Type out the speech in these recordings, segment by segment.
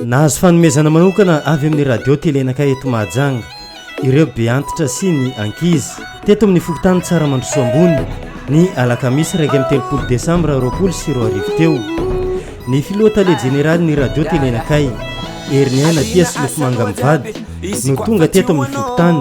Nahazo fanomezana manokana avy amin'ny Radio Télé Naka eto Mahajanga ireo be antitra sy ny ankizy. Teto amin'ny fokontany Tsaramandrosoa Ambony, ny alakamisy iraika amby telopolo desambra roapolo sy roa arivo teo, ny filoha tale jeneralin'ny Radio Télé Nakay, Heriniaina Tia Solofomanga Mivady no tonga teto amin'ny fokontany,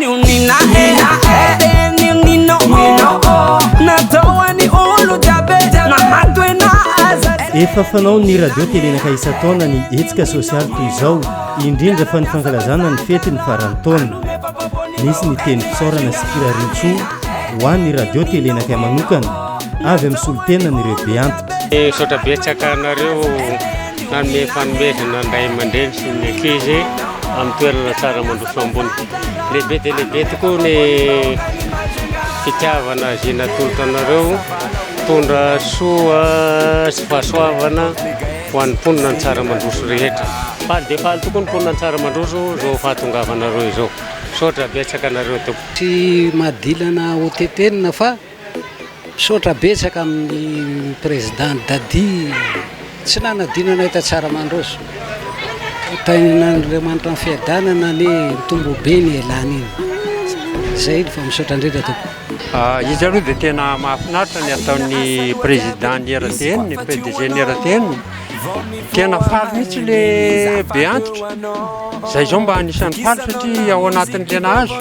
Efa fanao ny radio telenaka isan-taona ny hetsika sosialy toy izao, indrindra fa ny fankalazana ny fety ny faran'ny taona. Nisy ny teny fisaorana sy firarian-tsoa ho an'ny radio telenaka manokana avy amin'ny solontenan'ireo beantitra. Misaotra betsaka anareo. Nanome fanomezana ny ray aman-dreny sy ny ankizy amin'ny toerana tsara mandroso ambony. Lehibe dia lehibe tokoa ny fitiavana izay natolotra anareo. Tondra soa sy fahasoavana ho an'ny mponina ny tsara mandroso rehetra. Faly dia faly tokoa ny mponina ny tsara mandroso izao fahatongavanareo izao. Misaotra betsaka anareo tompoko. Tsy mahadilana ho tetenina fa. Misaotra betsaka amin'ny Président Dadi tsy nanadino anay ta Tsaramandroso. Hotahin'Andriamanitra amin'ny fiadanana anie mitombo be ny elan iny. Zay fa misaotra indrindra tompoko. Izy aloha dia tena mahafinaritra ny ataon'ny Président ny RTN, ny PDG ny RTN. Tena faly mihitsy le be antitra. Zay zao mba anisan'ny faly satria ao anatin'ny tena azo.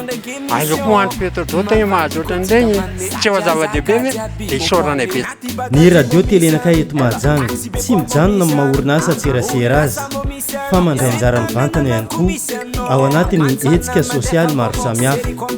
Aza koa andro petrodrota e mahazotra an'ireny e. Tsy efa zava-dehibe ve? Dia isaoranay betsaka. Ny radio telenakay eto Mahajanga tsy mijanona amin'ny maha orinasa an-tserasera azy fa mandray anjara mivantana ihany koa ao anatin'ny hetsika sosialy maro samihafa.